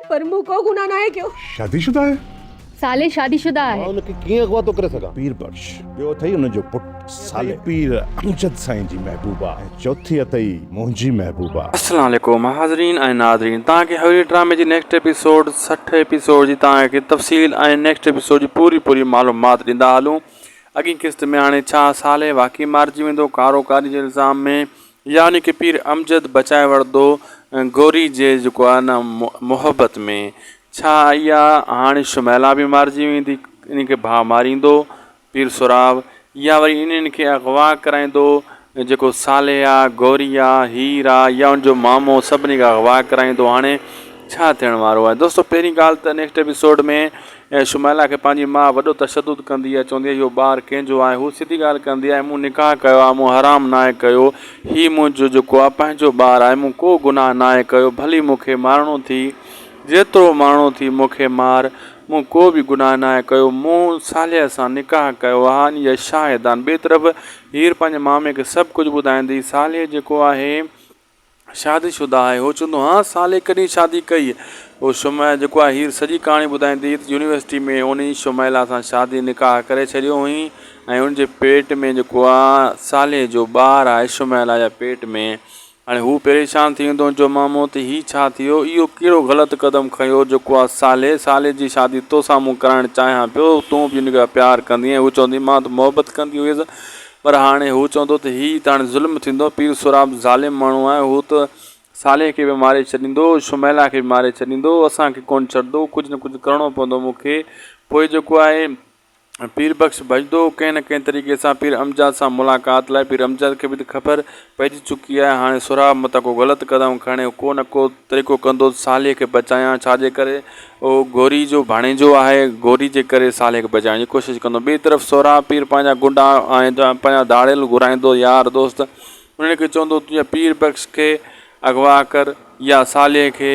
پر مون ڪو گناهه ناهي ڪيو. شادي شده آهي؟ صالح شادي شده آهي. مان ان کي ڪيئن اغواطو ڪري سگهان؟ پير بخش، ٻيو اٿئي ان جو پٽ صالح. پير امجد سائين جي محبوبه ۽ چوٿي اٿئي منهنجي محبوبه. السلام عليڪم حاضرين ۽ ناظرين توهان کي هويري ڊرامي جي نيڪسٽ ايپيسوڊ سٺ ايپيسوڊ جي توهان کي تفصيل ۽ نيڪسٽ ايپيسوڊ جي پوري پوري معلومات ڏيندا هلون اڳين قسط ۾ هاڻي ڇا صالح واقعي مارجي ويندو ڪارو ڪاري جي الزام ۾ يعني ڪي پير امجد بچائي وڙھندو گوري جي جيڪو آھي نه محبت ۾ ڇا اھا ھاڻي شميلا به مارجي ويندي انھن کي ڀاء ماريندو پير سھراب يا وري انھن کي اغوا ڪرائيندو جيڪو صالح آ گوري آ ھير آ يا ان جو مامو سڀني کي اغوا ڪرائيندو ھاڻي ڇا ٿيڻ وارو آھي دوستو پھرين ڳالھ ته نيڪسٽ ايپيسوڊ ۾ ۽ شميلا کي پنهنجي ماء وڏو تشدد ڪندي آهي چوندي آهي اهو ٻار ڪنهن جو آهي هوء سڌي ڳالهه ڪندي آهي مون نڪاح ڪيو آهي مون حرام ناهي ڪيو هي منهنجو جيڪو آهي پنهنجو ٻار آهي مون ڪو گناهه ناهي ڪيو ڀلي مون کي مارڻو ٿي جيترو مارڻو ٿي مون کي مار مون ڪو به گناهه ناهي ڪيو مون صالحه سان نڪاح ڪيو آهي ان جا شاهد آهن ٻئي طرف هير پنهنجي مامي کي سڀ ڪجهه ٻڌائيندي صالحه جيڪو آهي شادي شده آهي. هو چوندو، ها صالح ڪڏهن شادي ڪئي؟ پوء شمع جيڪو آهي هير سڄي ڪهاڻي ٻڌائيندي ته يونيورسٽي ۾ هن ئي شميلا سان شادي نڪاح ڪري ڇڏيو هئين ۽ هن جي پيٽ ۾ جيڪو آ صالح جو ٻار آهي شميلا جا پيٽ ۾ هاڻي هو پريشان ٿي ويندو جو مامو ته هي ڇا ٿيو اهو ڪهڙو غلط قدم کنيو جيڪو آ صالح صالح جي شادي توسان مون ڪرائڻ چاهيان پيو تون به ان کي پيار ڪندينء هو چوندي مان ته محبت ڪندي هئس پر هاڻي هو چوندو ته هي ته هاڻي ظلم ٿيندو، پير سهراب ظالم ماڻهو آهي، هو ته صالح کي به ماري ڇڏيندو، شميلا کي به ماري ڇڏيندو، اسان کي ڪونه ڇڏندو، ڪجهه نه ڪجهه ڪرڻو پوندو مون کي، پوء جيڪو آهي پير بخش ڀڄندو، ڪنهن نه ڪنهن طريقي سان پير امجاد سان ملاقات لاء، پير امجاد کي به ته خبر پئجي چڪي آهي، هاڻي سهراب متان ڪو غلط قدم کڻي، ڪو نه ڪو طريقو ڪندو ته صالح کي بچايان، ڇا جي ڪري هو گوري جو ڀاڻيجو آهي، گوري جي ڪري صالح کي بچائڻ جي ڪوشش ڪندو. ٻئي طرف سهراب پير پنهنجا گنڊا ۽ پنهنجا ڌاڙيل گهرائيندو، يار دوست انهن کي چوندو ته يا پير بخش کي اغوا ڪر يا صالح کي،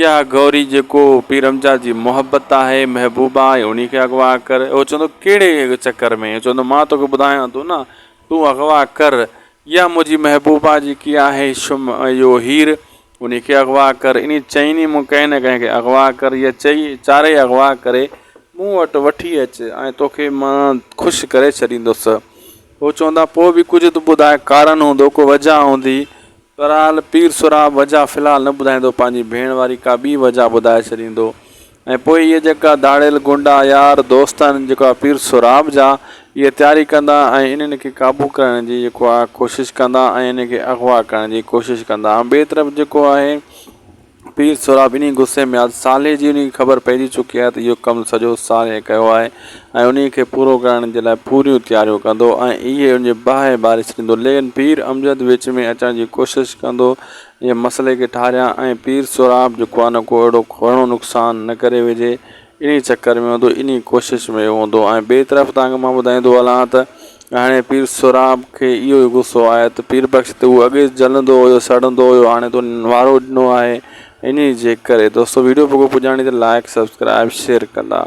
يا گوري جيڪو پيرمجاد جي محبت آهي، محبوبه آهي، انهي کي اغوا ڪر. هو چوندو ڪهڙي چڪر ۾؟ هو چوندو مان توکي ٻڌايان ٿو نه، تون اغوا ڪر يا منهنجي محبوبه جيڪي آهي شم اهو هير انهي کي اغوا ڪر. انهي چئين ئي مون ڪنهن نه ڪنهن کي اغوا ڪر. هيء چئي چارئي اغوا ڪري مون وٽ وٺي اچ ۽ توکي مان خوش ڪري ڇڏيندس. هو چوندا پوء به ڪجهه ته ٻڌاء ڪارڻ هوندو، ڪو وجهه هوندي. بهرحال پير سهراب وجهه في الحال نه ٻڌائيندو، پنهنجي ڀيڻ واري ڪا ٻي وجهه ٻڌائي ڇڏيندو. ۽ پوء اهي جيڪا ڌاڙيل غنڊا يار دوست آهن جيڪو آ پير سهراب جا اهي تياري ڪندا ۽ انهن کي قابو ڪرڻ جي جيڪو آ ڪوشش ڪندا ۽ انهن کي اغوا ڪرڻ جي ڪوشش ڪندا ۽ ٻئي طرف جيڪو آهي پير سهراب انهي غصي ۾ آت صالح جي انهي کي خبر پئجي چڪي آهي ته اهو ڪم سڄو صالح ڪيو آهي ۽ انهي کي پورو ڪرڻ جي لاء پوريون تياريون ڪندو ۽ اهي ان جي باهه ٻاري ڇڏيندو ليڪن پير امجد وچ ۾ اچڻ جي ڪوشش ڪندو جي مسئلي کي ٺاريان ۽ پير سهراب جو ڪونه ڪو اهڙو گهڻو نقصان نه ڪري وجهي انهي چڪر ۾ هوندو انهي ڪوشش ۾ هوندو ۽ ٻئي طرف توهان کي مان ٻڌائيندو هلان ته هاڻي پير سهراب کي اهو ئي غصو آهي ته پير بخش تي هو اڳي جلندو هيو سڙندو هيو هاڻي تو وارو ڏنو آهي انهي جي ڪري دوستو ويڊيو پڳو پڄاڻي ته لائيڪ سبسڪرائيب شيئر ڪندا.